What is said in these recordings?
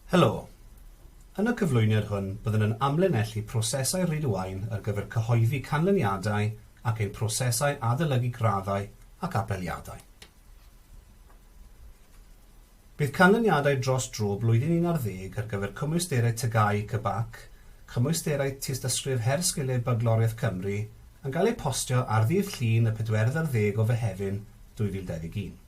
Helo. Yn y cyflwyniad hwn byddwn yn amlinellu prosesau Rhyd-y-waun ar gyfer cyhoeddi canlyniadau ac ein prosesau adolygu graddau ac apeliadau. Bydd canlyniadau dros dro blwyddyn un ar ddeg ar gyfer Cymwysterau TGAU CBAC, Cymwysterau Tystysgrif Her Sgiliau Bagloriaeth Cymru, yn cael eu postio ar ddydd Llun y pedwerydd ar ddeg o Fehefin 2021.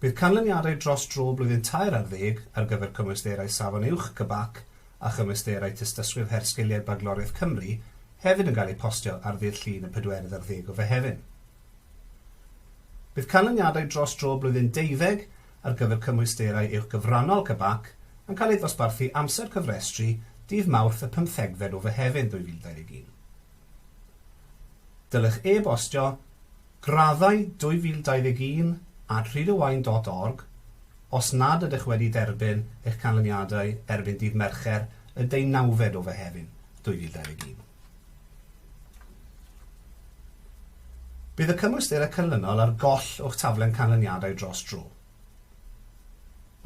Bydd canlyniadau dros dro blwyddyn tair ar ddeg ar gyfer cymwysterau Safon Uwch, CBAC, a chymwysterau Tystysgrif Her Sgiliau Bagloriaeth Cymru hefyd yn cael eu postio ar ddydd Llun y pedwerydd ar ddeg o Fehefin. Bydd canlyniadau dros dro blwyddyn deuddeg ar gyfer cymwysterau Uwch Gyfrannol, CBAC, yn cael eu dosbarthu amser cyfrestru dydd Mawrth y pymthegfed o Fehefin 2021. Dylech e-bostio Graddau 2021 at rhydowain.org Os nad ydych wedi derbyn eich canlyniadau erbyn dydd Mercher y deunawfed o Fehefin 2021, bydd y cymwysterau canlynol ar goll o'ch taflen canlyniadau dros dro.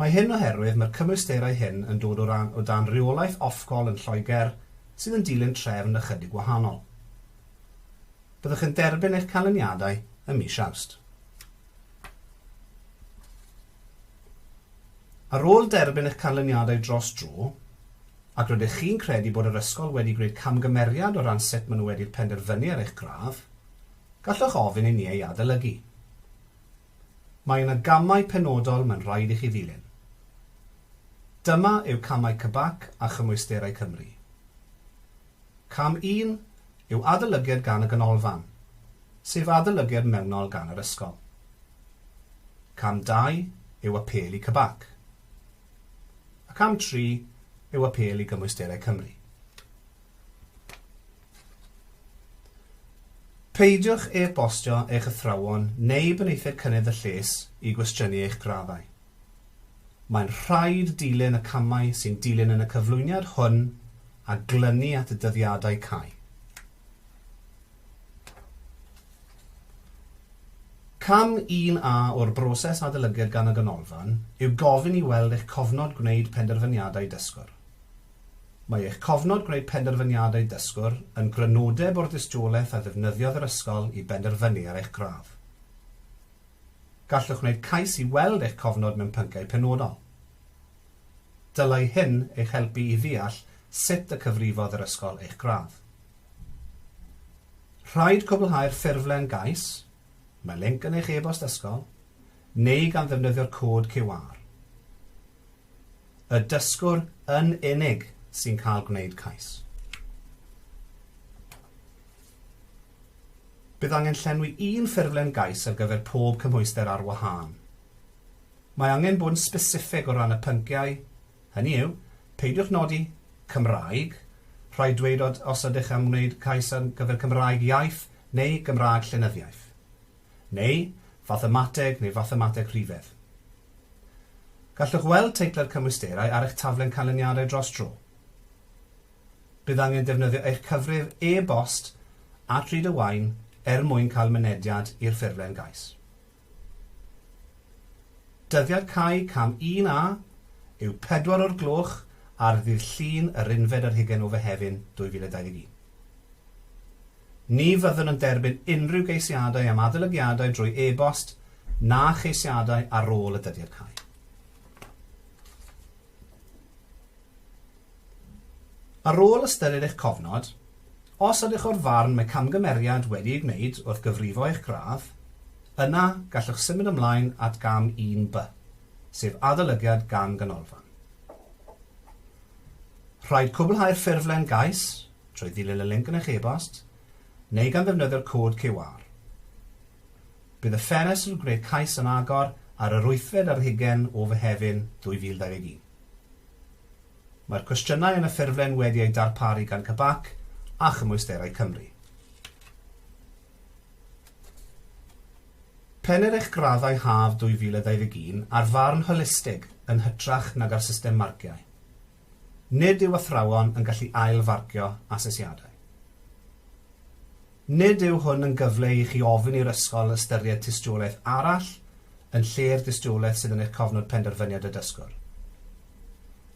Mae hyn oherwydd mae'r cymwysterau hyn yn dod o dan reolaeth Ofcom yn Lloegr sydd yn dilyn trefn ychydig wahanol. Byddwch yn derbyn eich canlyniadau ym mis Awst. Ar ôl derbyn eich canlyniadau dros dro, ac rydych chi'n credu bod yr ysgol wedi gwneud camgymeriad o ran sut maen nhw wedi'r penderfynu ar eich gradd, gallwch ofyn i ni ei adolygu. Mae yna gamau penodol mae'n rhaid i chi ddilyn. Dyma yw camau CBAC a Chymwysterau Cymru. Cam un yw adolygiad gan y Ganolfan, sef adolygiad mewnol gan yr ysgol. Cam dau yw apêl i CBAC. A cam tri yw apêl i Gymwysterau Cymru. Peidiwch e-bostio eich athrawon neu benaethiaid cynnydd y lles i gwestiynu eich graddau. Mae'n rhaid dilyn y camau sy'n dilyn yn y cyflwyniad hwn a glynu at y dyddiadau cau. Cam 1A o'r broses adolygiad gan y Ganolfan yw gofyn i weld eich cofnod gwneud penderfyniadau dysgwr. Mae eich cofnod gwneud penderfyniadau dysgwr yn grynodeb o'r dystiolaeth a ddefnyddiodd yr ysgol i benderfynu ar eich gradd. Gallwch wneud cais i weld eich cofnod mewn pynciau penodol. Dylai hyn eich helpu i ddeall sut y cyfrifodd yr ysgol eich gradd. Rhaid cwblhau'r ffurflen gais, mae linc yn eich e-bost ysgol, neu gan ddefnyddio'r cod QR. Y dysgwr yn unig sy'n cael gwneud cais. Bydd angen llenwi un ffurflen gais ar gyfer pob cymhwyster ar wahân. Mae angen bod yn sbesiffeg o ran y pynciau, hynny yw, peidiwch nodi Cymraeg, rhaid dweud os ydych am wneud cais ar gyfer Cymraeg iaith neu Gymraeg llenyddiaeth, neu Fathemateg neu Fathemateg rhifedd. Gallwch weld teitlau cymwysterau ar eich taflen canlyniadau dros dro. Bydd angen defnyddio eich cyfrif e-bost at Read a Wine er mwyn cael mynediad i'r ffurflen gais. Dyddiad cau cam 1A yw pedwar o'r gloch ar ddydd Llun yr unfed ar hugain o Fehefin 2021. Ni fyddwn yn derbyn unrhyw geisiadau am adolygiadau drwy e-bost na cheisiadau ar ôl y dyddiad cau. Ar ôl ystyried eich cofnod, os ydych o'r farn mae camgymeriad wedi ei gwneud wrth gyfrifo eich gradd, yna gallwch symud ymlaen at gam 1B, sef adolygiad gan ganolfan. Rhaid cwblhau'r ffurflen gais trwy ddilyn y linc yn eich e-bost neu gan ddefnyddio'r cod QR. Bydd y ffenestr gwneud cais yn agor ar yr wythfed ar hugain o Fehefin 2021. Mae'r cwestiynau yn y ffurflen wedi eu darparu gan CBAC a Chymwysterau Cymru. Pennir eich graddau haf 2021 ar farn holistig yn hytrach nag ar system marciau. Nid yw athrawon yn gallu ail-farcio asesiadau. Nid yw hwn yn gyfle i chi ofyn i'r ysgol ystyried tystiolaeth arall yn lle'r dystiolaeth sydd yn eich cofnod penderfyniad y dysgwr.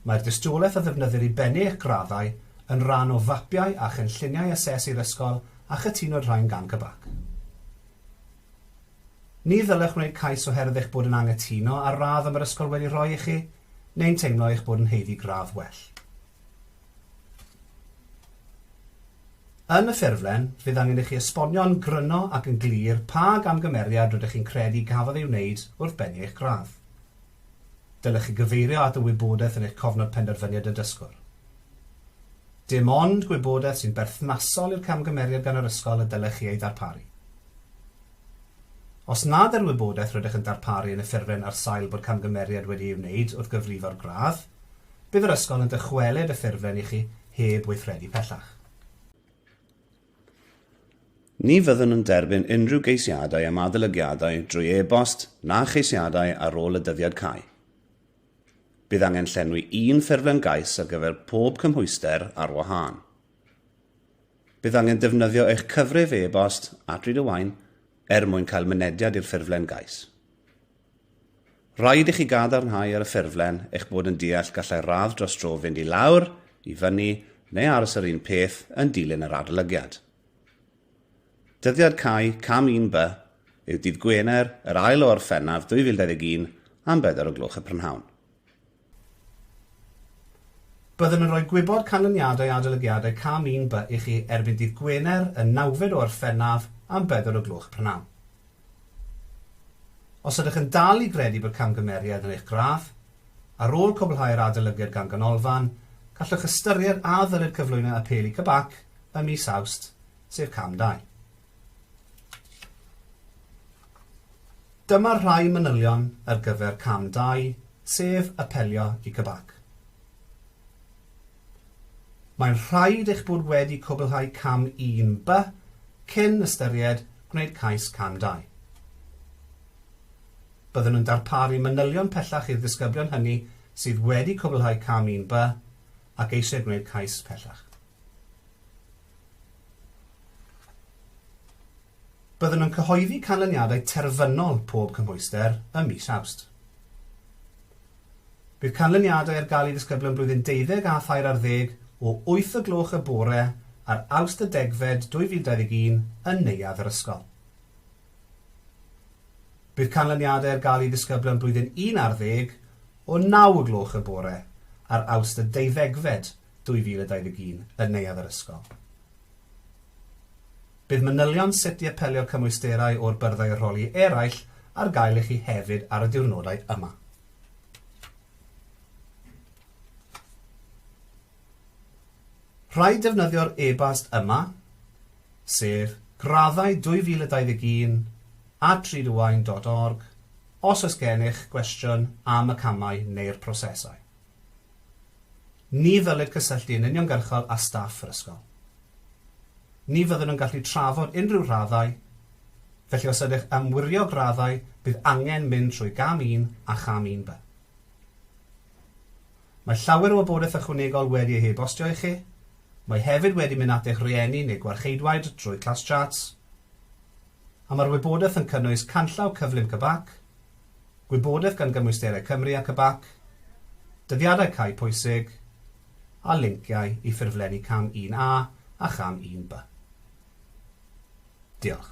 Mae'r dystiolaeth a ddefnyddir i bennu eich graddau yn rhan o fapiau a chynlluniau asesu yr ysgol a chytunwyd rhain gan CBAC. Ni ddylech wneud cais oherwydd eich bod yn anghytuno â'r radd y mae'r ysgol wedi rhoi i chi neu'n teimlo eich bod yn haeddu gradd well. Yn y ffurflen, fydd angen i chi esbonio'n gryno ac yn glir pa gamgymeriad rydych chi'n credu gafodd ei wneud wrth bennu eich gradd. Dylech chi gyfeirio at y wybodaeth yn eich cofnod penderfyniad y dysgwr. Dim ond gwybodaeth sy'n berthnasol i'r camgymeriad gan yr ysgol y dylech chi ei ddarparu. Os nad yw'r wybodaeth rydych yn darparu yn y ffurflen ar sail bod camgymeriad wedi ei wneud wrth gyfrifo'r gradd, Bydd yr ysgol yn dychwelyd y ffurflen i chi heb weithredu pellach. Ni fyddwn yn derbyn unrhyw geisiadau am adolygiadau drwy e-bost na cheisiadau ar ôl y dyddiad cau. Bydd angen llenwi un ffurflen gais ar gyfer pob cymhwyster ar wahân. Bydd angen defnyddio eich cyfrif e-bost at Read a Wine er mwyn cael mynediad i'r ffurflen gais. Rhaid i chi gadarnhau ar y ffurflen eich bod yn deall gallai radd dros dro fynd i lawr, i fyny, neu aros yr un peth yn dilyn yr adolygiad. Dyddiad cau cam 1B yw dydd Gwener yr ail o Orffennaf 2021 am bedwar o gloch y prynhawn. Byddwn yn rhoi gwybod canlyniadau adolygiadau Cam 1B i chi erbyn dydd Gwener y nawfed o Orffennaf am bedwar o gloch prynhawn. Os ydych yn dal i gredu bod camgymeriad yn eich graff, ar ôl cwblhau'r adolygiad gan Ganolfan, gallwch ystyried a ddylir cyflwyno apêl i CBAC ym mis Awst, sef Cam 2. Dyma rhai manylion ar gyfer cam dau, sef apelio i CBAC. Mae'n rhaid eich bod wedi cwblhau cam un by cyn ystyried gwneud cais cam dau. Byddwn yn darparu manylion pellach i'r disgyblion hynny sydd wedi cwblhau cam un by ac eisiau gwneud cais pellach. Byddwn yn cyhoeddi canlyniadau terfynol pob cymhwyster ym mis Awst. Bydd canlyniadau ar gael i ddisgyblion blwyddyn deuddeg a thair ar ddeg o wyth o gloch y bore ar Awst y degfed 2021 yn neuadd yr ysgol. Bydd canlyniadau ar gael i ddisgyblion blwyddyn un ar ddeg o naw o gloch y bore ar Awst y deuddegfed 2021 yn Neuadd yr Ysgol. Bydd manylion sut i apelio cymwysterau o'r byrddau arholi eraill ar gael i chi hefyd ar y diwrnodau yma. Rhaid defnyddio'r e-bast yma, sef graddau 2021 at driduwain.org os oes gennych gwestiwn am y camau neu'r prosesau. Ni ddylid cysylltu yn uniongyrchol â staff yr ysgol. Ni fyddwn yn gallu trafod unrhyw raddau, felly os ydych am wirio graddau bydd angen mynd trwy gam un a cham un by. Mae llawer o wybodaeth ychwanegol wedi ei hebostio i chi, mae hefyd wedi mynd at eich rhieni neu gwarcheidwaid drwy Classcharts, a mae'r wybodaeth yn cynnwys canllaw cyflym CBAC, gwybodaeth gan gymwysterau Cymru ac y bac, dyddiadau cau pwysig, a linciau i ffurflenni Cam 1A a Cham 1B. Diolch.